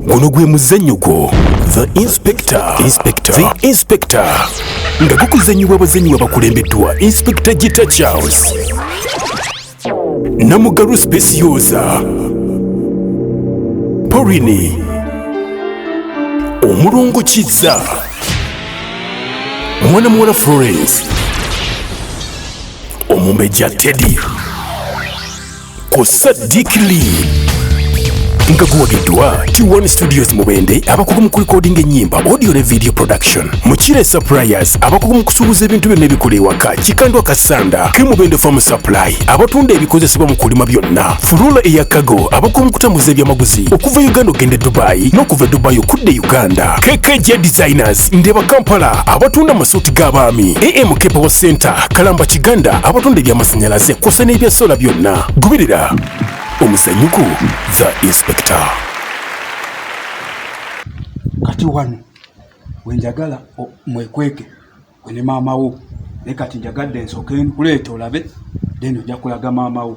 guno gwe muzannyo gwo the inspector inspector the inspector nga gukuzannyibwa abazannyi babakulembeddwa inspector gita charles namugalu specioza porini omulongo kizza mwana muwala florence omumbejja teddy ku Sadiq Lee nga guwagiddwa T1 Studios Mubende abakugu mu kulikodinga ennyimba audio ne video production Mukire Suppliers abakugu mu kusuubuza ebintu byonna ebikola ewaka Kikandwa Kasanda ke Mubende Farm Supply abatunda ebikozesebwa mu kulima byonna Furula eya Kago abakugu mu kutambuza ebyamaguzi okuva Uganda okugenda e Dubai n'okuva e Dubai okudda e Uganda KKJ Designers Market, Ndeba Kampala abatunda amasuuti g'abaami, AM Kepewo Center, Kalamba Kiganda abatunda eby'amasannyalaze kw'ossa n'ebya sola byonna. Goberera omuzanyuko The Inspector. kati wano wenjagala o- mwekweke gwe ne maama wo naye kati njagadde nsooke nkuleeta olabe then ojja kulaga maama wo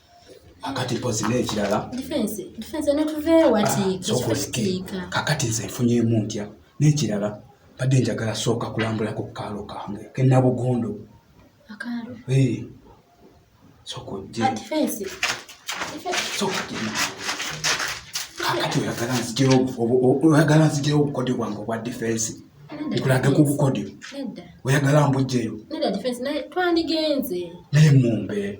akati mpozi n'ekirala kakati nze nfunyemu ntya n'ekirala badde njagala sooka kulambula ku kaalo kange kenabugondo kakati oyagala nzijeo oyagala nzijeo obukodyo bwange obwa difensi nkulage ku bukodyo oyagala mbujjeyo naye mumbe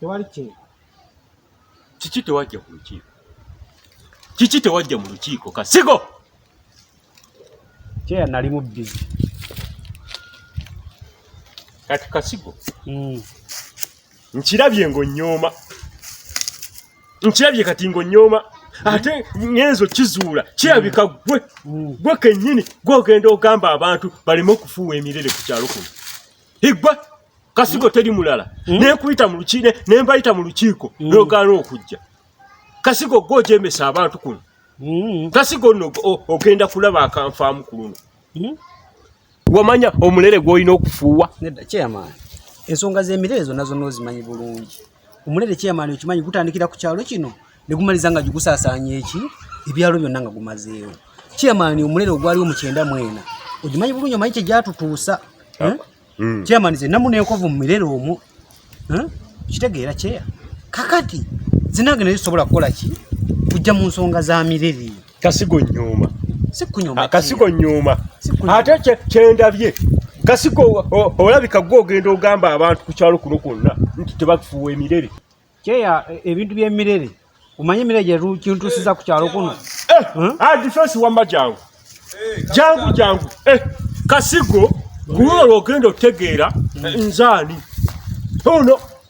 tewali kyeyo kiki tewajja ku lukiiko kiki tewajja mu lukiiko kasigo kyeya nali mu bizi kati kasigo hmm. nkirabye ngo nyooma nkirabye kati ngo nyooma ate ngenzo kizuula kirabika hmm. gwe hmm. gwe kennyini gwogenda ogamba abantu baleme okufuuwa emirere ku kyalo kuno igwa kasigo teri mulala mm. nekuyita mu lukiiko nembayita mu lukiiko mm. nogaana okujja kasigo gwe ojemesa abantu kuno mm. kasigo no ogenda kulaba akanfaamu ku luno mm. wamanya omulere gwolina okufuuwa ensonga z'emirere zonna zonna ozimanyi bulungi omulere chairman okimanyi gutandikira ku kyalo kino ne gumaliza nga gigusasaanya eki ebyalo byonna nga gumazeewo chairman omulere ogwaliwo mu kyenda mwena ogimanyi bulungi omanyi kyegyatutuusa ah, eh? mm. chairman ze namu nenkovu mu mirere omwo eh? kitegeera kyeya kakati zinange naye zisobola kukola ki kujja mu nsonga za mirere kasigo nyuma sikunyuma kasigo nyuma ate kye kyendabye kasigo olabika gwo ogenda ogamba abantu ku kyalo kuno kwonna nti tebakufuwa emirere kyeya e, ebintu by'emirere omanyi emirere gye kintuusiza ku kyalo kuno eh, hmm? ah, difensi wamma jangu eh, jangu jangu eh, kasigo gulwo lwogenda otegeera hmm. nzaani ono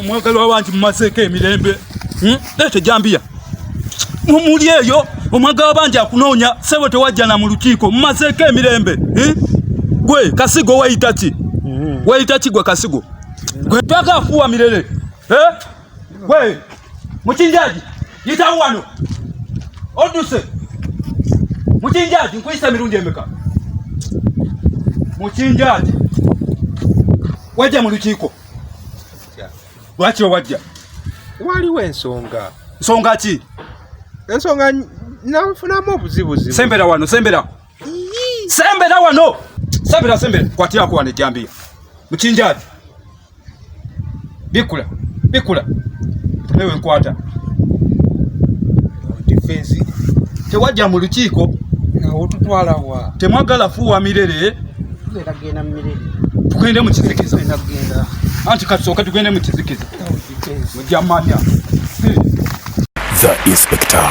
omwagalwa wangi mumazeeko emirembe hmm? leeta ejambiya mumuli eyo omwaga wabangi akunoonya sebo tewajjana mu lukiiko mumazeeko emirembe hmm? gwe kasigo weyitaki hmm. weyitaki gwe kasigo gwe paka afuwa mirere eh? Wewe mchinjaji, yitawo wano oduse. Mchinjaji, nkuyisa mirundi emeka? Mchinjaji, wajja mu lukiiko. Lwaki we wajja? Waliwo ensonga. Nsonga ki? Ensonga nafunamu obuzibuzibu. Sembera wano, sembera. Sembera wano. Sembera, sembera. Kwatira kuwa ne jambiya. Mchinjaji. bikula bikula ewe nkwata defense tewajja mu lukiiko otutwala wa temwagala fuwa mirere genda mu mirere tugende mu kizikiza genda anti kasooka tugende mu kizikiza ojja manya the inspector